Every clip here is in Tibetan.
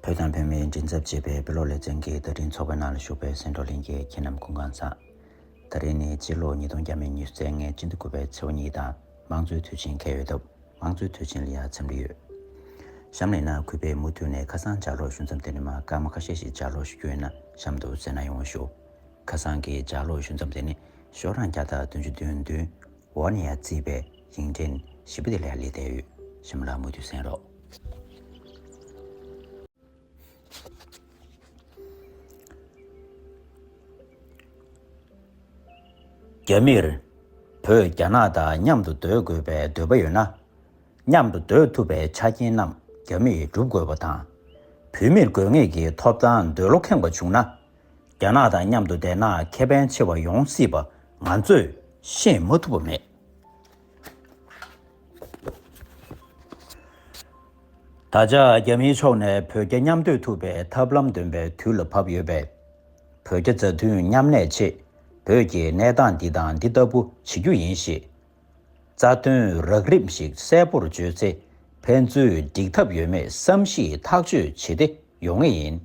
བོད་དང་བོད་མིའི་མགྲིན་ཚབ་བྱེད་པའི་དཔེ་ཀློག་ལེ་ཚན་གྱི་བརྡ་འཕྲིན་ཚོགས་པའི་ནང་ལ་ཞུགས་པའི་སེང་འབྲོག་གླིང་གི་ཁྱེད་རྣམས་ཀུན་གང་ཟག། ད་རེས་ནི་སྤྱི་ལོ་ཉིས་སྟོང་བརྒྱ་མེད་ཉི་ཤུ་རྩེག་ལྔའི་སྤྱི་འདུལ་དགུ་པའི་ཚེའུ་གཉིས་དང་དམངས་གཙོའི་དུས་ཆེན་ཁེལ་ཡོད་སྟབས་དམངས་གཙོའི་དུས་ཆེན་ལ་ཡང་འཚམས་འདྲི་ཡོད། གཤམ་ལས་ནང་གུས་པས་མུ་མཐུད་ནས་ཁ་སང་ལྗགས་ཀློག་ཞུ་མཚམས་དེ་ནས་མ་སྐར་མ་ཁ་ཤས་ཤིག་ལྗགས་ཀློག་ཞུ་རྒྱུ་ཡོད་ན་གཤམ་དུ་གསལ་ན་ཡོང་ཞུ། ཁ་སང་གི་ལྗགས་ཀློག་ཞུ་མཚམས་དེ་ནས་ཤོག་གྲངས་བརྒྱ་དང་དོན་བཅུ་བདུན་བདུན་འོག་ནས་བརྩིས་པའི་ཡིག་འབྲི་བཞི་པོ་དེ་ལས་ལེགས་ལྡན་ཡོད་གཤམ་གླ་མུ་མཐུད་གསན་རོགས། རྒྱ་མིར་བོད་རྒྱ་ནག་དང་མཉམ་དུ་སྡོད་དགོས་པའི་འདོད་པ་ཡོད་ན། མཉམ་དུ་སྡོད་ཐུབ་པའི་ཆ་རྐྱེན་རྣམས་རྒྱ་མིས་བསྒྲུབ་དགོས་པ་དང། བོད་མིར་དགོས་ངེས་ཀྱི་ཐོབ་ཐང་འདོད་བློ་ཁེངས་པ་བྱུང་ན། རྒྱ་ནག་དང་མཉམ་དུ་བསྡད་ན་ཁེ་ཕན་ཆེ་བ་ཡོང་སྲིད་པ་ང་ཚོས་ཤེས་མ་ཐུབ་པ་མེད། ད་ཆ་རྒྱ་མིའི་ཕྱོགས་ནས་བོད་རྒྱ་མཉམ་སྡོད་ཐུབ་པའི་ཐབས་ལམ་འདོན་པའི་དུས་ལ་བབ་ཡོད་པས། བོད་རྒྱ་མཛའ་མཐུན་མཉམ་གནས་ཆེད་བོད་ཀྱི་གནས་སྟངས་འདི་དང་འདི་ལྟ་བུ་བྱེད་རྒྱུ་ཡིན་ཞེས། རྩ་དོན་རགས་རིམ་ཞིག་གསལ་པོར་བརྗོད་ཚེ་ཕན་ཚུན་འགྲིག་ཐབས་ཡོད་མེད་བསམ་གཞིག་ཐག་གཅོད་བྱེད་བདེ་ཡོང་ངེས་ཡིན།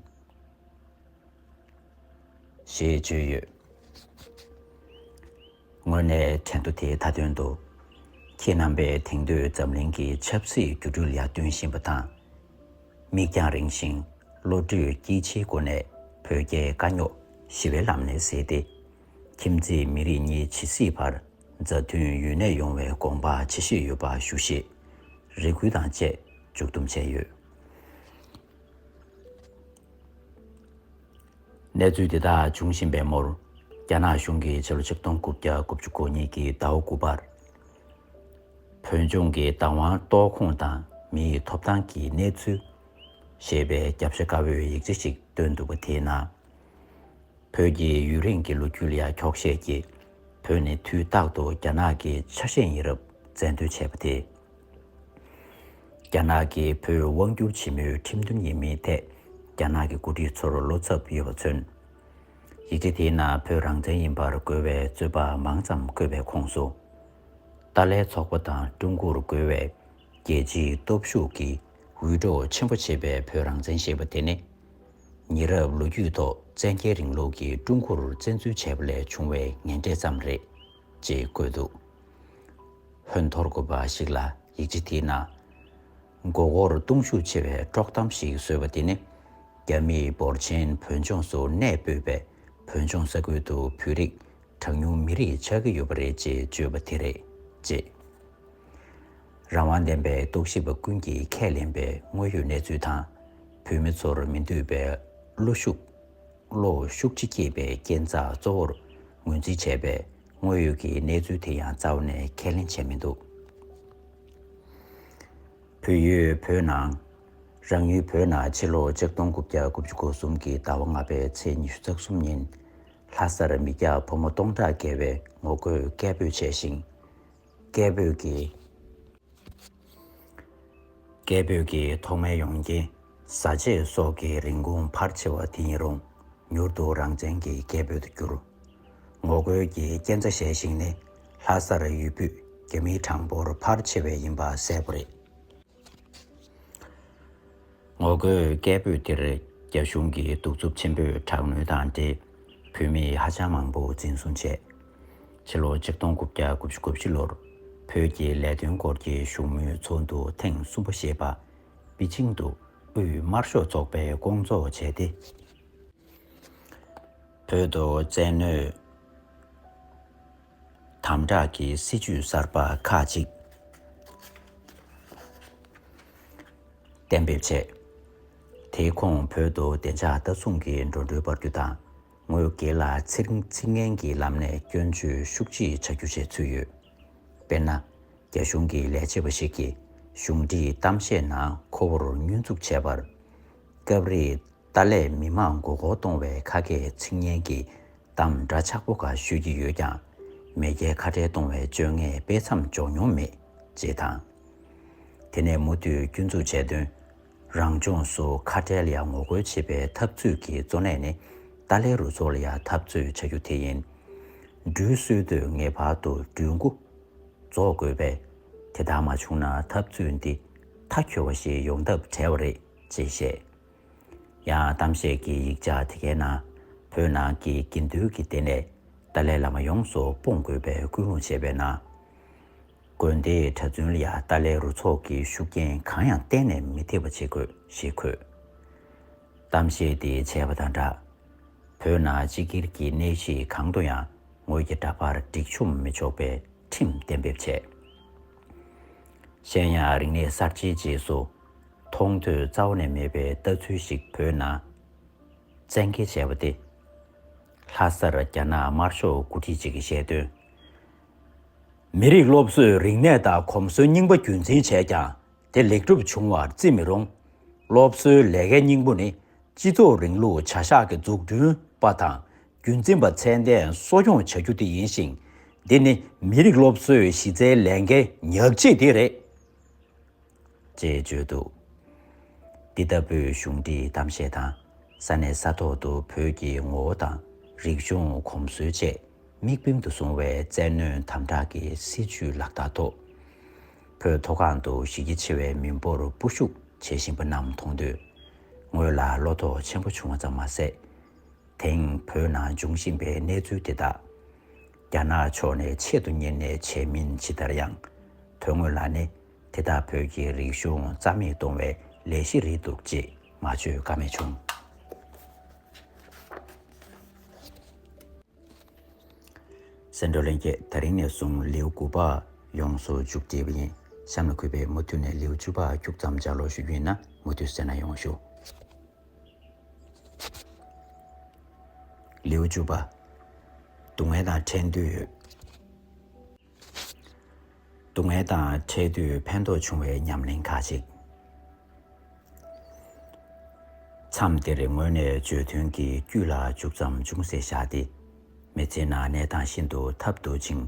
ཞེས་བརྗོད་ཡོད། དངོས་གནས་ཕྲན་ཐུ་དེ་ད་དོན་འདུག་ཁྱེད་རྣམ་པས་དེང་དུས་འཛམ་གླིང་གི་ཆབ་སྲིད་འགྱུར་འགྲོས་ཡར་བསྟུན་བཞིན་པ་དང། མིག་རྒྱང་རིང་ཞིང་བློ་གྲོས་སྐྱིད་ཆེའི་སྒོ་ནས་བོད་རྒྱའི་དཀའ་རྙོག་ཞི་བའི་ལམ་ནས་སེལ་ཏེ། ཁྱིམ་མཚེས་མི་རིགས་གཉིས་ཇི་སྲིད་བར་མཛའ་མཐུན་ཡུན་གནས་ཡོང་བའི་དགོངས་པ་ཇི་བཞེས་ཡོད་པ་ཞུ་ཞེས་རེ་སྐུལ་དང་བཅས་མཇུག་བསྡོམས་བྱས་ཡོད། གནས་ཚུལ་དེ་དག་འབྱུང་བཞིན་པའི་མུར། རྒྱ་ནག་གཞུང་གིས་ཕྱི་ལོ་ཆིག་སྟོང་དགུ་བརྒྱ་དགུ་བཅུ་གོ་གཉིས་ཀྱི་ཟླ་བ་དགུ་པར། བོད་ལྗོངས་ཀྱི་བདག་དབང་གཏོགས་ཁོངས་དང་མིའི་ཐོབ་ཐང་གི་གནས་ཚུལ། ཞེས་པའི་རྒྱབ་ཤ་དཀར་བོའི་ཡིག་ཆ་ཞིག་བཏོན་འདུག་པ་དེའི་ནང། བོད་ཀྱི་ཡུན་རིང་གི་ལོ་རྒྱུས་ལ་ཡང་འཁྱོག་བཤད་ཀྱིས་བོད་ནི་དུས་རྟག་ཏུ་རྒྱ་ནག་གི་ཆ་ཤས་ཡིན་རབས་བཙན་འདོན་བྱས་པ་དེས། རྒྱ་ནག་གིས་བོད་དབང་བསྒྱུར་བྱེད་མུས་ཁྲིམས་མཐུན་ཡིན་མིན་ཐད་རྒྱ་ནག་གི་འགོ་ཁྲིད་ཚོར་བློ་འཚབ་ཡོད་པ་མཚོན། ཡིག་ཆ་དེའི་ནང་བོད་རང་བཙན་ཡིན་པར་རྒོལ་བའི་རྩོད་པ་མང་ཙམ་བཀོད་པའི་ཁོངས་སུ། ཏཱ་ལའི་ཚོགས་པ་དང་ཀྲུང་གོར་རྒོལ་བའི་རྒྱལ་སྤྱིའི་སྟོབས་ཤུགས་ཀྱིས་འུད་སྒྲོག་ཆེན་པོ་བྱེད་པའི་བོད་རང་བཙན་ཞེས་པ་དེ་ནི། ཉེ་རབས་ལོ་རྒྱུས་ཐོག་བཙན་རྒྱལ་རིང་ལུགས་ཀྱིས་ཀྲུང་གོར་བཙན་འཛུལ་བྱས་པ་ལས་བྱུང་བའི་ངན་འབྲས་ཙམ་རེད། ཅེས་བཀོད་འདུག་ཧོན་ཐོར་དགོན་པ་ཞིག་ལ་ཡིག་ཆ་དེའི་ནང། མགོ་བོར་གཏོང་ཤུགས་ཆེ་བའི་དཀྲོག་གཏམ་ཞིག་བཟོས་པ་དེ་ནི། རྒྱ་མིས་འབོར་ཆེན་བོད་ལྗོངས་སུ་གནས་སྤོས་པས་བོད་ལྗོངས་ས་ཁུལ་དུ་བོད་རིགས་གྲངས་ཉུང་མི་རིགས་ཆགས་ཀྱི་ཡོད་པ་རེད་ཅེས་བརྗོད་པ་དེ་རེད། ཅེས་རང་དབང་ལྡན་པའི་རྟོག་ཞིབ་པ་ཀུན་གྱིས་ཁས་ལེན་པའི་དངོས་ཡོད་གནས་ཚུལ་དང། བོད་མི་ཚོར་མི་འདོད་པའི་བློ་ཤུགས། གློ་བོ་ཤུགས་ཆེ་སྐྱེས་པའི་རྐྱེན་རྩ་གཙོ་བོར་ངོས་འཛིན་བྱས་པས་དངོས་ཡོད་ཀྱི་གནས་ཚུལ་དེ་ཡང་རྩ་བ་ནས་ཁས་ལེན་བྱས་མི་འདུག་བོད་ཡུལ་བོད་ནང། རང་ཡུལ་བོད་ནང་ཕྱི་ལོ་ཆིག་སྟོང་དགུ་བརྒྱ་དགུ་བཅུ་གོ་གསུམ་གྱི་ཟླ་བ་ལྔ་པའི་ཚེས་ཉི་ཤུ་རྩ་གསུམ་ཉིན། ལྷ་སར་མི་སྐྱ་ཕོ་མོ་སྟོང་ཕྲག་བརྒལ་བས་ངོ་རྒོལ་སྐད་འབོད་བྱས་ཤིང། སྐད་འབོད་ཀྱི། སྐད་འབོད་ཀྱི་ཐོག་མའི་ཡོང་རྐྱེན་བཟའ་ཆས་སོགས་ཀྱི་རིན་གོང་འཕར་ཆེ་བ་དེ་ཡིན་རུང་མྱུར་དུ་རང་བཙན་གྱི་སྐད་འབོད་དུ་གྱུར། ངོ་རྒོལ་གྱི་རྐྱེན་རྩ་ཞལ་ཞིག་ནི་ལྷ་སར་ཡུལ་སྤུས་རྒྱ་མིའི་གྲངས་འབོར་འཕར་ཆེ་བས་ཡིན་པ་གསལ་པོ་རེད། ངོ་རྒོལ་སྐད་འབོད་དེར་རྒྱ་གཞུང་གིས་གདུག་རྩུབ་ཆེན་པོས་དྲག་གནོན་དང་འབྲེལ་བོད་མི་ཧ་ཅང་མང་པོ་འཛིན་བཟུང་བྱས། ཕྱི་ལོ་ཆིག་སྟོང་དགུ་བརྒྱ་དགུ་བཅུ་དགུ་བཞི་ལོར་བོད་ཀྱི་ལས་དོན་སྐོར་གྱི་བཞུགས་མོལ་ཚོགས་འདུ་ཐེངས་གསུམ་པ་ཞེས་པ་པི་ཅིང་དུ་དབུས་དམར་ཤོག་ཚོགས་པས་བསྐོང་ཚོགས་བྱས་ཏེ། བོད་དུ་བཙན་གནོད། དམ་དྲག་གི་སྲིད་ཇུས་གསར་པ་ཁག་ཅིག་གཏན་འབེབས་བྱས། དེའི་ཁོངས་བོད་དུ་བདེ་འཇགས་ལྟ་སྲུང་གི་འགྲོ་འགྲུལ་སྤར་རྒྱུ་དང་ངོས་སྒེར་ལ་ཚིག་ངན་གྱི་ལམ་ནས་སྐྱོན་བརྗོད་ཤུགས་ཆེ་བྱ་རྒྱུ་བཅས་ཚུད་ཡོད། དཔེར་ན། རྒྱ་གཞུང་གི་ལས་བྱེད་པ་ཞིག་གིས་གཞུང་འབྲེལ་གཏམ་བཤད་ནང་ཁོ་བོར་བསྙོན་འཛུགས་བྱས་པར། སྐབས་རེ་ཏཱ་ལས་མི་དམངས་མགོ་སྐོར་གཏོང་བའི་ཁ་སྐད་ཚིག་སྙན་གྱི་གཏམ་འདྲ་ཆགས་པོ་འགའ་ཤོད་ཀྱི་ཡོད་ཀྱང། མེས་རྒྱལ་ཁ་བྲལ་གཏོང་བའི་བཅོ་ལྔའི་དཔེ་མཚམས་འཇོག་མྱོང་མེད། ཅེས་དང། དེ་ནས་མུ་མཐུད་སྐྱོན་འཛུགས་བྱས་དོན། རང་ལྗོངས་སུ་ཁ་བྲལ་ཡང་ངོ་རྒོལ་བྱེད་པའི་འཐབ་རྩོད་ཀྱི་གཙོ་གནད་ནི་ཏཱ་ལའི་རུ་ཚོགས་ལ་ཡང་འཐབ་རྩོད་བྱ་རྒྱུ་དེ་ཡིན། འགྲུལ་བསུའི་དུས་ངེས་པར་དུ་འགྲུལ་མགོ་རྫོགས་དགོས་པས། དེ་ལྟར་མ་བྱུང་ན་འཐབ་རྩོད་འདི་མཐའ་འཁྱོལ་བ་ཞིག་ཡོང་ཐབས་བྲལ་བ་རེད་ཅེས་བཤད། ཡང་གཏམ་བཤད་ཀྱི་ཡིག་ཆ་དེ་གའི་ནང་བོད་ནང་གི་དགེ་འདུན་གྱི་ལྟེ་གནས་ཏཱ་ལའི་བླ་མ་ཡོངས་སུ་སྤོང་དགོས་པའི་སྐུལ་སློང་བྱས་པའི་ནང། དགོན་དེའི་གྲྭ་བཙུན་ལ་ཡང་ཏཱ་ལའི་རུ་ཚོགས་ཀྱི་ཤུགས་རྐྱེན་གང་ཡང་གཏན་ནས་མི་ཐེབས་པ་བྱེད་དགོས་ཞེས་འཁོད། གཏམ་བཤད་དེ་བྱས་པ་དང་སྦྲགས། བོད་ནང་སྤྱི་སྒེར་གྱི་གནས་གཞི་གང་དུ་ཡང་ངོས་ཀྱི་འདྲ་པར་སྒྲིག་ཆོམ་མི་ཆོག་པའི་ཁྲིམས་གཏན་འབེབས་བྱས། གཞན་ཡང་རིག་གནས་གསར་བརྗེའི་རྗེས་སུ། མཐོང་ཐོས་རྩ་བ་ནས་མེད་པའི་ལྟ་ཚུལ་ཞིག་བོད་ནང་བཙན་འགེལ་བྱས་པ་སྟེ། ལྷ་སར་རྒྱ་ནག་དམར་ཤོག་འགོ་ཁྲིད་ཅིག་གིས་བཤད་དོན། མི་རིགས་སློབ་གསོས་རིག་གནས་དང་གོམས་སྲོལ་རྙིང་པ་རྒྱུད་འཛིན་བྱས་ཀྱང་དེ་ལེགས་འགྲུབ་བྱུང་བར་བརྩི་མི་རུང། སློབ་གསོའི་ལས་ཀའི་སྙིང་པོ་ནི་སྤྱི་ཚོགས་རིང་ལུགས་བྱ་གཞག་གི་འཛུགས་སྐྲུན་པ་དང་རྒྱུན་འཛིན་པ་ཚད་ལྡན་གསོ་སྐྱོང་བྱ་རྒྱུ་དེ་ཡིན་ཞིང། འདི་ནི་མི་རིགས་སློབ་གསོའི་གཞི་རྩའི་ལས་འགན་ཉག་གཅིག་དེ་རེད། ཅེས་བརྗོད་འདུག་འདི་ལྟ་བུའི་གཞུང་འདིའི་གཏམ་བཤད་དང་ས་གནས་ས་ཐོག་ཏུ་བོད་ཀྱི་ངོ་བོ་དང་རིག་གཞུང་གོམས་སྲོལ་བཅས་དམིགས་འབེན་དུ་བཟུང་བའི་བཙན་གནོན་དམ་དྲག་གི་སྲིད་བྱུས་ལག་བསྟར་ཐོག་བོད་མཐོ་སྒང་དུ་གཞི་རྒྱ་ཆེ་བའི་མི་འབོར་སྤོ་ཤུགས་བྱེད་བཞིན་པ་རྣམས་མཐོང་དུས་ངོས་ལ་བློ་དོགས་ཆེན་པོ་བྱུང་བ་ཙམ་མ་ཟད། དེང་བོད་ནང་འབྱུང་བཞིན་པའི་གནས་ཚུལ་དེ་དག་རྒྱ་ནག་ཕྱོགས་ནས་ཆེད་དུ་གཉེར་ནས་བྱས་མིན་ཇི་ལྟར་ཡང་དོན་དངོས་ལ་ནི་དེ་དག་བོད་ཀྱི་རིག་གཞུང་རྩ་མེད་གཏོང་བའི་ལས་གཞི་རེད་འདུག་ཅེས་མ་བརྗོད་ཀ་མེད་བྱུང། སེ་འབྲུ་ལེན་རྒྱས་ད་རིང་ནས་བཟུང་ལེའུ་དགུ་པ་ཡོངས་སུ་བཅུག་བྲིས་པ་ཡིན། གཤམ་ལ་གུས་པས་མུ་མཐུད་ནས་ལེའུ་བཅུ་པ་བཅུག་མཚམས་སྦྱར་ཀློག་ཞུ་རྒྱུ་ཡིན་ན་མུ་མཐུད་གསན་ན་ཡོང་ཞུ། ལེའུ་བཅུ་པ། སྡུག་བསྔལ་དང་ཁྲེལ་འདོད་ཡོད། སྡུག་བསྔལ་དང་འཕྲད་དུས་ཕན་ཐོགས་བྱུང་བའི་ཉམས་ལེན་ཁག་ཅིག། མཚམས་འདིར་ངོས་ནས་བརྗོད་དོན་གྱི་དཀྱུས་ལ་འཇུག་ཙམ་ཅུང་ཟད་བཞག་སྟེ། མི་ཚེ་ནང་གནས་སྟངས་ཤིན་ཏུ་ཐབས་རྡུགས་ཅིང་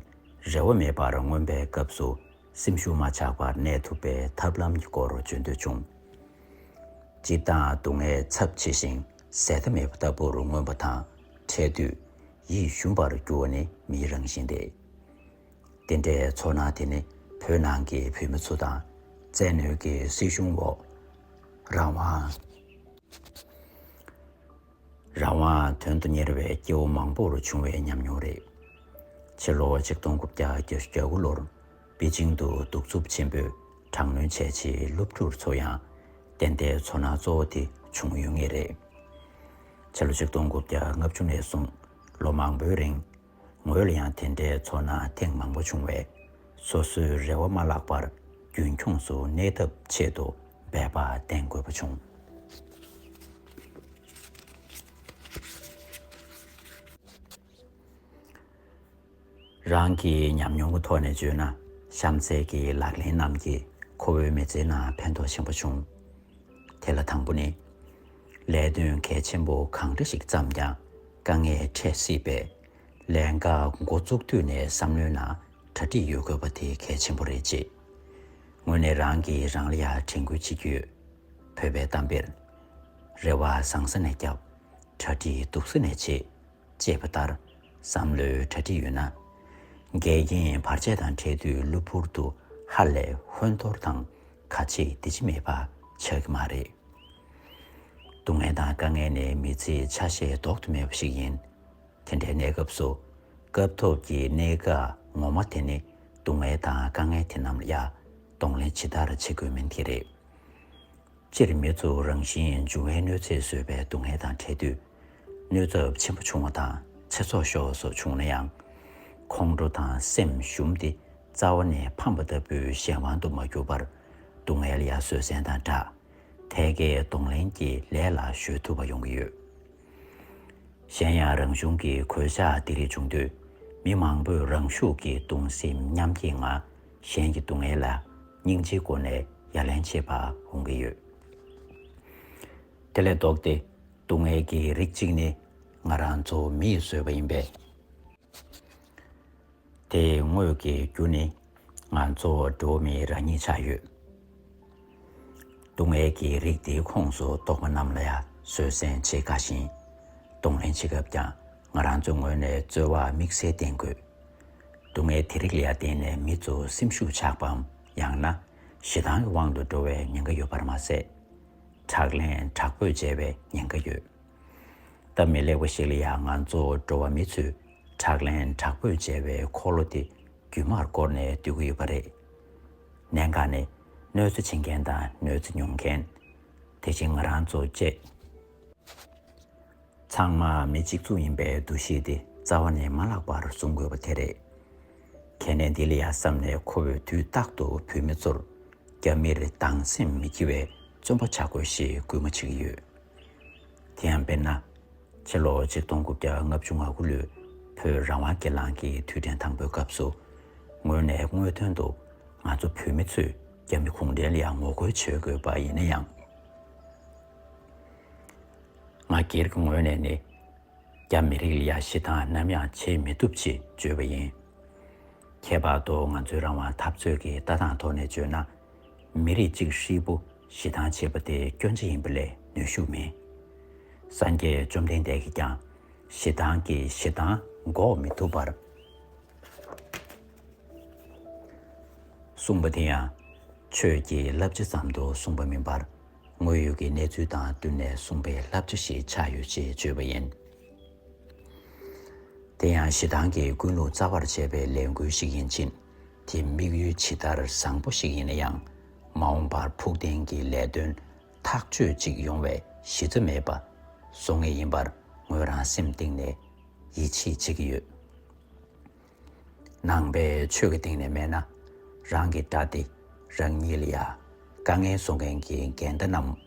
རེ་བ་མེད་པར་མངོན་པའི་སྐབས་སུ་སེམས་ཤུགས་མ་ཆག་པར་གནས་ཐུབ་པའི་ཐབས་ལམ་གྱི་སྐོར་བརྗོད་འདོད་བྱུང། སྤྱིར་བཏང་སྡུག་བསྔལ་ཚབས་ཆེ་ཞིང་ཟད་མཐའ་མེད་པ་ལྟ་བུར་མངོན་པ་དང་འཕྲད་དུས་ཡིད་ཞུམ་པར་འགྱུར་བ་ནི་མིའི་རང་བཞིན་ཏེ། དེ་འདྲའི་ཚོར་སྣང་དེ་ནི་བོད་ནང་གི་བོད་མི་ཚོ་དང་བཙན་གནོན་གྱི་སྲིད་གཞུང་འོག་རང་དབང། རང་དབང་དོན་དུ་གཉེར་བའི་སྐྱེ་བོ་མང་པོར་བྱུང་བའི་ཉམས་མྱོང་རེད། ཕྱི་ལོ་ཆིག་སྟོང་དགུ་བརྒྱ་གྱ་བཞི་གྱ་དགུ་ལོར་པེ་ཅིང་དུ་གདུག་རྩུབ་ཆེན་པོས་དྲག་གནོན་བྱས་རྗེས་སློབ་ཕྲུག་ཚོ་ཡང་དེ་འདྲའི་ཚོར་སྣང་གཙོ་བོ་དེ་བྱུང་ཡོད་ངེས་རེད། ཕྱི་ལོ་ཆིག་སྟོང་དགུ་བརྒྱ་ལྔ་བཅུ་ནས་བཟུང་ལོ་མང་པོའི་རིང། ངོས་ལ་ཡང་དེ་འདྲའི་ཚོར་སྣང་ཐེངས་མང་པོ་བྱུང་བས། སོ་སོའི་རེ་བ་མ་བརླག་པར་རྒྱུན་འཁྱོངས་སུ་གནས་ཐབས་ཆེད་དུ་འབད་པ་བསྟེན་དགོས་པ་བྱུང། རང་གི་ཉམས་མྱོང་གི་ཐོག་ནས་བརྗོད་ན་གཤམ་གསལ་གྱི་ལག་ལེན་རྣམས་ཀྱིས་ཁོ་བོའི་མི་ཚེའི་ནང་ཕན་ཐོགས་ཆེན་པོ་བྱུང། དེ་ལ་དང་པོ་ནི། ལས་དོན་གལ་ཆེན་པོ་གང་འདྲ་ཞིག་བརྩམས་ཀྱང་དཀའ་ངལ་འཕྲད་སྲིད་པས། ལས་འག་འགོ་བཙུགས་དུས་ནས་བསམ་བློའི་ནང་གྲ་སྒྲིག་ཡོད་དགོས་པ་དེ་གལ་ཆེན་པོ་རེད། ཅེས་ངོས་ནས་རང་གིས་རང་ལ་ཡ་དྲན་ཁུལ་བྱེད་ཀྱི་ཡོད། བོད་པའི་གཏམ་དཔེར། རེ་བ་བཟང་ས་ནས་བརྒྱབ། གྲ་སྒྲིག་སྡུག་ས་ནས་བྱེད། ཅེས་པ་ལྟར་བསམ་བློའི་གྲ་སྒྲིག་ཡོད་ན། འགལ་རྐྱེན་བར་ཆད་དང་འཕྲད་དུས་གློ་བུར་དུ་ཧ་ལས་ཧོན་ཐོར་དང་ག་ཆེ་འདི་ཆེ་མེད་པ་ཆགས་ཀྱི་མ་རེད། སྡུག་བསྔལ་དང་དཀའ་ངལ་ནི་མི་ཚེའི་ཆ་ཤས་ལྡོག་ཏུ་མེད་པ་ཞིག་ཡིན། དེ་འདྲའི་གནས་སྐབས་སུ། སྐབས་ཐོབ་ཀྱི་གནད་འགག་ངོ་མ་དེ་ནི་སྡུག་བསྔལ་དང་དཀའ་ངལ་དེ་རྣམས་ལ་ཡག་གཏོང་ལེན་ཇི་ལྟར་བྱེད་དགོས་མིན་དེ་རེད། སྤྱིར་མི་གཙོ་རང་བཞིན་འབྱུང་བའི་གནོད་འཚེ་བཟོས་པའི་སྡུག་བསྔལ་དང་འཕྲད་དུས། གནོད་ཚབས་ཆེན་པོ་བྱུང་བ་དང་ཚེ་སྲོག་ཤོར་བ་སོགས་བྱུང་ན་ཡང། ཁོང་ཁྲོ་དང་སེམས་ཞུམ་སྟེ་རྩ་བ་ནས་ཕམ་པ་ལྟ་བུའི་གཞན་དབང་དུ་མ་གྱུར་པར། སྡུག་བསྔལ་ཡར་བཟོད་བསྲན་དང་སྦྲགས། ཐད་ཀའི་གདོང་ལེན་གྱི་ལས་ལ་གཞོལ་ཐུབ་པ་ཡོང་གི་ཡོད། གཞན་ཡང་རང་བྱུང་གི་གོད་ཆག་འདི་རིགས་བྱུང་དུས། མི་མང་པོས་རང་ཤུགས་ཀྱིས་གདུང་སེམས་མཉམ་སྐྱེད་ངང་གཞན་གྱི་སྡུག་བསྔལ་ལ། སྙིང་རྗེའི་སྒོ་ནས་ཡ་ལན་བྱེད་པ་འོང་གི་ཡོད། དེ་ལས་ལྡོག་སྟེ་སྡུག་བསྔལ་གྱི་རིགས་གཅིག་ནི་ང་རང་ཚོ་མི་ཡིས་བཟོས་པ་ཡིན་པས། དེའི་དངོས་ཀྱི་རྒྱུ་ནི་ང་ཚོ་འགྲོ་བ་མིའི་རང་ཉིད་ཆགས་ཡོད། སྡུག་བསྔལ་གྱི་རིགས་དེའི་ཁོངས་སུ་གཏོགས་པ་རྣམས་ལ་ཡང་བཟོད་བསྲན་བྱེད་དཀའ་ཞིང། གདོང་ལེན་བྱེད་སྐབས་ཀྱང་ང་རང་ཚོའི་ངོས་ནས་རྩོལ་བ་དམིགས་བསལ་བསྟེན་དགོས། སྡུག་བསྔལ་དེ་རིགས་ལ་བརྟེན་ནས་མི་ཚོ་སེམས་ཤུགས་ཆག་པའམ་ཡང་ན་ཞེ་སྡང་གི་དབང་དུ་འགྲོ་བའི་ཉེན་ཁ་ཡོད་པར་མ་ཟད། དྲག་ལན་དྲག་པོས་འཇལ་བའི་ཉེན་ཁ་ཡོད། སྟབས་མི་ལེགས་པ་ཞིག་ལ་ཡང་ང་ཚོ་འགྲོ་བ་མི་ཚོས་དྲག་ལན་དྲག་པོས་འཇལ་བའི་འཁོར་ལོ་དེ་རྒྱུན་མར་བསྐོར་ནས་སྡོད་ཀྱི་ཡོད་པ་རེད། གནད་འགག་ནི་གནོད་འཚེ་བྱེད་མཁན་དང་གནོད་འཚེ་མྱོང་མཁན། དེ་བཞིན་ང་རང་ཚོ་བཅས། ཚང་མ་མི་གཅིག་མཚུངས་ཡིན་པའི་འདུ་ཤེས་དེ་རྩ་བ་ནས་མ་བརླག་པར་བཟུང་དགོས་པ་དེ་རེད། གལ་གནད་འདི་ལ་ཡ་བསམས་ནས་ཁོ་བོས་དུས་རྟག་ཏུ་བོད་མི་ཚོར་རྒྱ་མིར་སྡང་སེམས་མི་སྐྱེ་བའི་བརྩོན་པ་བྱ་དགོས་ཞེས་སྐུལ་མ་བྱེད་ཀྱི་ཡོད། དེ་ཡང་དཔེར་ན། ཕྱི་ལོ་ཆིག་སྟོང་དགུ་བརྒྱ་ལྔ་བཅུ་ང་དགུ་ལོའི་བོད་རང་དབང་སྒེར་ལངས་ཀྱི་དུས་དྲན་དང་པོའི་སྐབས་སུ། ངོས་ནས་དངོས་དོན་དུ་ང་ཚོ་བོད་མི་ཚོས་རྒྱ་མི་གུང་ཁྲན་ལ་ངོ་རྒོལ་བྱེད་དགོས་པ་ཡིན་ན་ཡང། ང་སྒེར་གྱི་ངོས་ནས་ནི། རྒྱ་མི་རིགས་ལ་ཡ་ཞི་དང་ནམ་ཡང་བྱེད་མི་ཐུབ་ཅེས་བརྗོད་པ་ཡིན། ཁྱད་པར་དུ་ང་ཚོའི་རང་དབང་འཐབ་རྩོད་ཀྱི་ལྟ་སྟངས་ཐོག་ནས་བརྗོད་ན། མི་རིགས་གཅིག་ཧྲིལ་པོ་ཞི་དང་བྱེད་པ་དེ་སྐྱོན་ཅི་ཡིན་པ་ལས་ནུས་ཤུགས་མིན། སངས་རྒྱས་བཅོམ་ལྡན་འདས་ཀྱིས་ཀྱང་ཞེ་སྡང་གིས་ཞེ་སྡང་འགོག་མི་ཐུབ་པར་གསུངས་པ་དེ་ཡང་ཆོས་ཀྱི་བསླབ་བྱ་ཙམ་དུ་གསུངས་པ་མིན་པར། དངོས་ཡོད་ཀྱི་གནས་ཚུལ་དང་བསྟུན་ནས་གསུངས་པའི་བསླབ་བྱ་ཞིག་ཆགས་ཡོད་ཅེས་བརྗོད་པ་ཡིན། དེ་ཡང་ཞེ་སྡང་གི་ཀུན་སློང་རྩ་བར་བྱས་པའི་ལས་འགུལ་ཞིག་ཡིན་ཕྱིན། དེ་དམིགས་ཡུལ་ཇི་ལྟར་བཟང་པོ་ཞིག་ཡིན་ན་ཡང། མ་འོངས་པར་ཕུགས་བརྟན་གྱི་ལས་དོན་ཐག་གཅོད་ཅིག་ཡོང་བའི་གཞི་རྩ་མེད་པ་བཟོ་ངེས་ཡིན་པར་ངོས་རང་སེམས་གཏིང་ནས་ཡིད་ཆེས་བྱེད་ཀྱི་ཡོད། ནང་པའི་ཆོས་ཀྱི་སྟེང་ནས་སྨྲས་ན། རང་གི་དགྲ་སྟེ་རང་ཉིད་ལ་ཡང་དཀའ་ངལ་བཟོ་མཁན་གྱི་འགལ་ཟླ་རྣམས།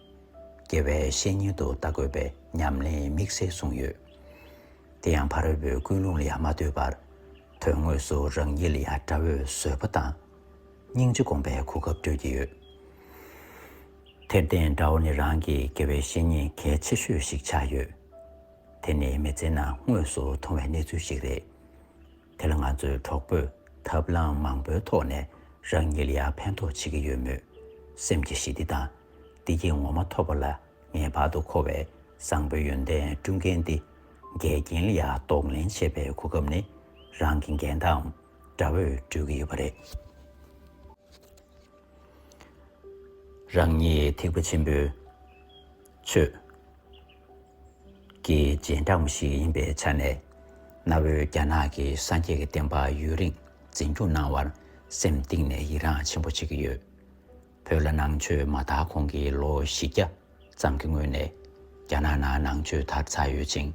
དགེ་བའི་བཤེས་གཉེན་དུ་བལྟ་དགོས་པའི་ཉམས་ལེན་དམིགས་བསལ་གསུངས་ཡོད། དེ་ཡང་ཕ་རོལ་པོའི་ཀུན་སློང་ལ་ཡང་མ་ལྟོས་པར། དོན་དངོས་སུ་རང་ཉིད་ལ་ཡང་དགྲ་བོས་བཟོད་པ་དང། སྙིང་རྗེ་སྒོམ་པའི་གོ་སྐབས་སྤྲོད་ཀྱི་ཡོད། དེར་བརྟེན་དགྲ་བོ་ནི་རང་གི་དགེ་བའི་བཤེས་གཉེན་གལ་ཆེ་ཤོས་ཤིག་ཆགས་ཡོད། དེ་ནི་མི་ཚེའི་ནང་དངོས་སུ་མཐོང་བའི་གནས་ཚུལ་ཞིག་རེད། དེ་ལ་ང་ཚོའི་གྲོགས་པོས་ཐབས་ལམ་མང་པོའི་ཐོག་ནས་རང་ཉིད་ལ་ཡང་ཕན་ཐོགས་བྱེད་ཀྱི་ཡོད་མོད། སེམས་ཀྱི་ཞི་བདེ་དང་བདེ་སྐྱིད་ངོ་མ་ཐོབ་པ་ལ་ངེས་པར་དུ་མཁོ་བའི་བཟང་པོའི་ཡོན་ཏན་བསྐྲུན་མཁན་ཏེ། འགལ་རྐྱེན་ལ་ཡང་རྟོག་ལེན་བྱེད་པའི་གོ་སྐབས་ནི་རང་གི་འགལ་ཟླའམ་དགྲ་བོས་སྤྲོད་ཀྱི་ཡོད་པ་རེད། རང་ཉིད་ཐེག་པ་ཆེན་པོའི། ཆོས་ཀྱི་རྗེས་འབྲང་བ་ཞིག་ཡིན་པའི་ཆ་ནས། གནའ་བོའི་རྒྱ་ནག་གི་སངས་རྒྱས་ཀྱི་བསྟན་པ་ཡུན་རིང་འཛིན་སྐྱོང་གནང་བར་སེམས་གཏིང་ནས་ཡི་རངས་ཆེན་པོ་བྱེད་ཀྱི་ཡོད། བོད་ལ་ནང་ཆོས་མ་དར་གོང་གི་ལོ་བཞི་བརྒྱ་ཙམ་གྱི་སྔོན་ནས་རྒྱ་ནག་ནང་ནང་ཆོས་དར་ཚར་ཡོད་ཅིང།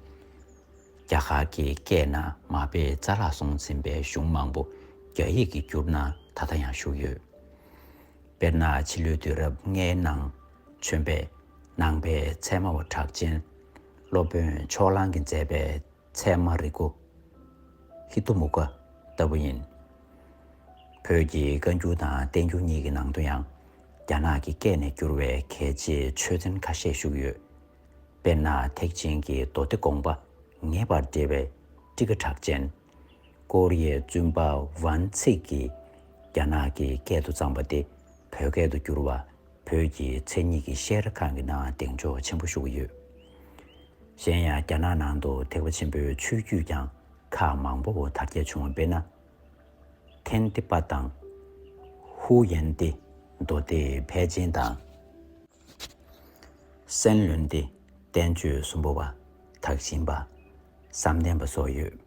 རྒྱ་གར་གྱི་སྐད་ནང་མ་དཔེ་རྩ་བརླག་སོང་ཟིན་པའི་གཞུང་མང་པོ་རྒྱ་ཡིག་གི་བསྒྱུར་ན་ད་ལྟ་ཡང་བཞུགས་ཡོད། དཔེར་ན་ཕྱི་ལོའི་དུས་རབས་ལྔའི་ནང། བྱོན་པས་ནང་པའི་ཚད་མ་བ་གྲགས་ཅན་སློབ་དཔོན་ཕྱོགས་གླང་གིས་མཛད་པའི་ཚད་མ་རིག་གོ། ཧི་ཏུ་མུ་ཀ་ལྟ་བུ་ཡིན། བོད་ཀྱི་བཀའ་འགྱུར་དང་བསྟན་འགྱུར་གཉིས་ཀྱི་ནང་དུ་ཡང་རྒྱ་ནག་གི་སྐད་ནས་བསྒྱུར་བའི་གལ་ཆེའི་ཆོས་ཚན་ཁ་ཤས་བཞུགས་ཡོད། དཔེར་ན་ཐེག་ཆེན་གྱི་མདོ་སྡེ་དགོངས་པ་ངེས་པར་འགྲེལ་བའི་ཀྲི་ཀ་གྲགས་ཅན། ཀོ་རི་ཡའི་བཙུན་པ་ཝན་ཚིག་གིས་རྒྱ་ནག་གི་སྐད་དུ་བརྩམས་པ་དེ་བོད་སྐད་དུ་བསྒྱུར་བ། བོད་ཀྱི་མཚན་ཉིད་ཀྱི་ཤེར་ཁང་གི་ནང་གདེང་འཇོག་ཆེན་པོ་ཞུ་གི་ཡོད། གཞན་ཡང་རྒྱ་ནག་ནང་དུ་ཐེག་པ་ཆེན་པོའི་ཆོས་བརྒྱུད་ཀྱང་ཁག་མང་པོ་དར་རྒྱས་བྱུང་བ་དཔེར་ན། ཐན་ཏི་པ་དང། ཧུའུ་ཡན་ཏི། མདོ་སྡེ་ཕལ་ཆེན་དང། སན་ལུན་ཏི། བསྟན་བཅོས་གསུམ་པོ་བ། དག་ཞིང་པ། བསམ་གཏན་པ་སོགས་ཡོད།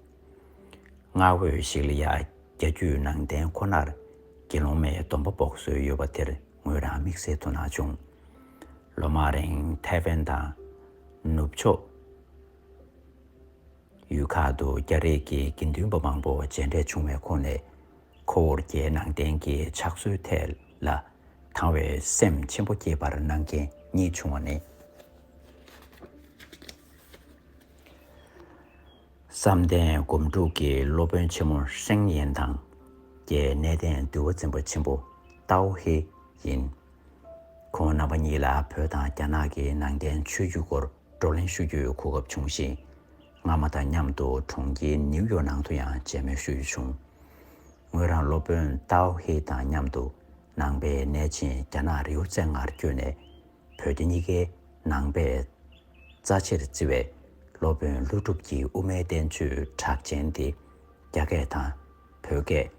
སྔར་འོས་ཤིག་ལ་ཡང་རྒྱ་བརྒྱུད་ནང་བསྟན་ཁོ་ནར་དགེ་སློང་མའི་སྡོམ་པ་འབོག་སྲོལ་ཡོད་པ་དེར་ངོས་རང་དམིགས་བསལ་དུ་གནང་བྱུང། ལོ་མང་རིང་ཐའེ་ཝན་དང། ནུབ་ཕྱོགས་ཡུལ་ཁག་ཏུ་རྒྱ་རིགས་ཀྱི་དགེ་འདུན་པ་མང་པོ་མཇལ་འཕྲད་བྱུང་བའི་ཁོངས་ནས། ཁོ་བོར་རྒྱའི་ནང་བསྟན་གྱི་ཕྱག་སྲོལ་ཐད་ལ་དང་བའི་སེམས་ཆེན་པོ་སྐྱེས་པར་གནང་མཁན་གཉིས་བྱུང་བ་ནི། བསམ་གཏན་སྒོམ་སྒྲུབ་ཀྱི་སློབ་དཔོན་ཆེན་མོ་ཧྲེང་ཡན་དང། རྒྱའི་གནས་བརྟན་འདུལ་བ་འཛིན་པ་ཆེན་པོ་ཏའོ་ཧེ་ཡིན། ཁོང་རྣམ་པ་གཉིས་ལ་བོད་དང་རྒྱ་ནག་གི་ནང་བསྟན་ཆོས་བརྒྱུད་སྐོར་བགྲོ་གླེང་ཞུ་རྒྱུའི་གོ་སྐབས་བྱུང་ཞིང། སྔ་མ་དང་མཉམ་དུ་གྲོང་ཁྱེར་ནིའུ་ཡོག་ནང་དུ་ཡང་མཇལ་མོལ་ཞུ་རྒྱུ་བྱུང། ངོས་རང་སློབ་དཔོན་ཏའོ་ཧེ་དང་མཉམ་དུ་ནང་པའི་གནས་ཆེན་རྒྱ་ནག་རེའུ་ཙན་ངར་བསྐྱོད་ནས་བོད་རྒྱ་གཉིས་ཀའི་ནང་པའི་རྩ་ཆེར་བརྩི་བའི་སློབ་དཔོན་ཀླུ་སྒྲུབ་ཀྱི་དབུ་མའི་བསྟན་བཅོས་གྲགས་ཅན་དེ་རྒྱ་སྐད་དང་བོད་སྐད།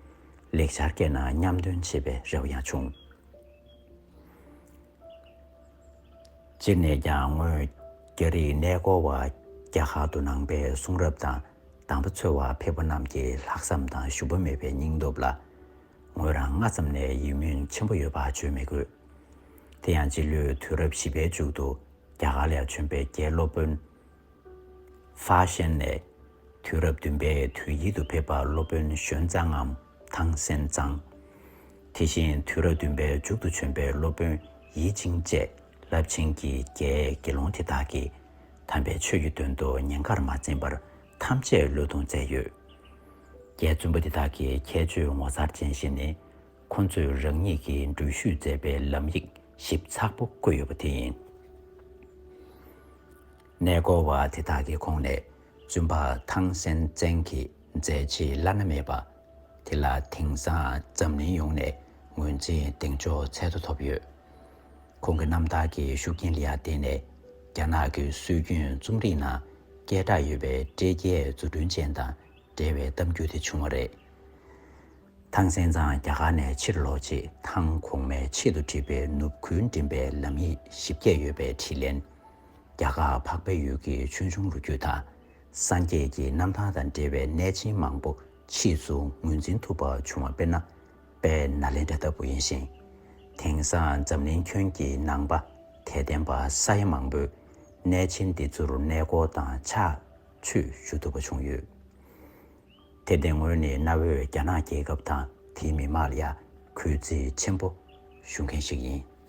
ལེགས་སྦྱར་སྐད་ནང་མཉམ་འདོན་བྱེད་པའི་རེ་བ་ཡང་བྱུང། སྤྱིར་ནས་ཀྱང་སྔོན་རྒྱ་རིག་གནས་སྐོར་བ་བརྒྱ་ལྷག་ཏུ་ནང་པའི་གསུང་རབ་དང་གདམས་པ་འཚོལ་བར་ཕེབས་པ་རྣམས་ཀྱི་ལྷག་བསམ་དང་ཞུམ་པ་མེད་པའི་སྙིང་སྟོབས་ལ་ངོས་རང་སྔ་ཙམ་ནས་ཡིད་སྨོན་ཆེན་པོ་ཡོད་པ་བརྗོད་མི་དགོས། དེ་ཡང་སྤྱི་ལོའི་དུས་རབས་བཞི་པའི་མཇུག་ཏུ་རྒྱ་གར་ལས་བྱོན་པའི་རྒྱའི་སློབ་དཔོན། ཧྥ་ཤན་ནས། དུས་རབས་བདུན་པའི་དུས་དབྱིལ་དུ་ཕེབས་པ་སློབ་དཔོན་གཞོན་གཙང་ངམ་ཐང་སན་གཙང། དེ་བཞིན་དུས་རབས་བདུན་པའི་མཇུག་ཏུ་བྱོན་པའི་སློབ་དཔོན་ཡིད་ཅིང་བཅས་རླབས་ཆེན་གྱི་རྒྱའི་དགེ་སློང་དེ་དག་གིས་དམ་པའི་ཆོས་ཀྱི་དོན་དུ་ཉེན་ཁར་མ་འཛེམས་པར་ཐམས་ཅད་བློས་གཏོང་མཛད་ཡོད། རྒྱའི་བཙུན་པ་འདི་དག་གི་ཁྱད་ཆོས་ངོ་མཚར་ཅན་ཞིག་ནི། ཁོ་ཚོས་རང་ཉིད་ཀྱི་འགྲུལ་བཞུད་མཛད་པའི་ལམ་ཡིག་ཞིབ་ཚགས་པོ་བཀོད་ཡོད་པ་དེ་ཡིན། གནས་སྐོར་བ་དེ་དག་གི་ཁོངས་ནས་བཙུན་པ་ཐང་སན་ཙན་གྱིས་མཛད་རྗེས་བླ་ན་མེད་པ་དེ་ལ་དེང་སང་འཛམ་གླིང་ཡོངས་ནས་ངོས་འཛིན་གདེང་འཇོག་ཚད་དུ་ཐོབ་ཡོད། ཁོང་གི་རྣམ་ཐར་གྱི་ཤུགས་རྐྱེན་ལ་བརྟེན་ནས་རྒྱ་ནག་གི་སྲོལ་རྒྱུན་རྩོམ་རིག་ནང་སྐད་གྲགས་ཡོད་པའི་སྤྲེལ་རྒྱལ་རྫུ་འཕྲུལ་ཅན་དང་འབྲེལ་བའི་གཏམ་རྒྱུད་དེ་བྱུང་བ་རེད། ཐང་སན་ཚང་རྒྱ་གར་ནས་ཕྱིར་ལོག་རྗེས་ཐང་གོང་མའི་ཆེད་དུ་བྲིས་པའི་ནུབ་ཁུལ་འགྲིམ་པའི་ལམ་ཡིག་ཞིབ་རྒྱས་ཡོད་པའི་དྲིས་ལན། རྒྱ་གར་འཕགས་པའི་ཡུལ་གྱི་ཆོས་འབྱུང་ལོ་རྒྱུས་དང་སངས་རྒྱས་ཀྱི་གནམ་ཐང་དང་འབྲེལ་བའི་གནས་ཆེན་མང་པོ་ཕྱིས་སུ་ངོས་འཛིན་ཐུབ་པ་བྱུང་བ་དཔེར་ན། པས་ན་ལེནྡྲ་ལྟ་བུ་ཡིན་ཞིང། དེང་སང་འཛམ་གླིང་ཁྱོན་གྱི་ནང་པ་དད་ལྡན་པ་ས་ཡ་མང་པོས་གནས་ཆེན་འདི་ཚུར་གནས་སྐོར་དང་ཕྱག་མཆོད་ཞུ་ཐུབ་པ་བྱུང་ཡོད་དེ། དེ་སྔོན་ནས་གནའ་བོའི་རྒྱ་ནག་རྒྱལ་ཁབ་དང་དེའི་མི་དམངས་ལ་ཡ་གུས་རྩེ་ཆེན་པོ་ཞུ་མཁན་ཞིག་ཡིན།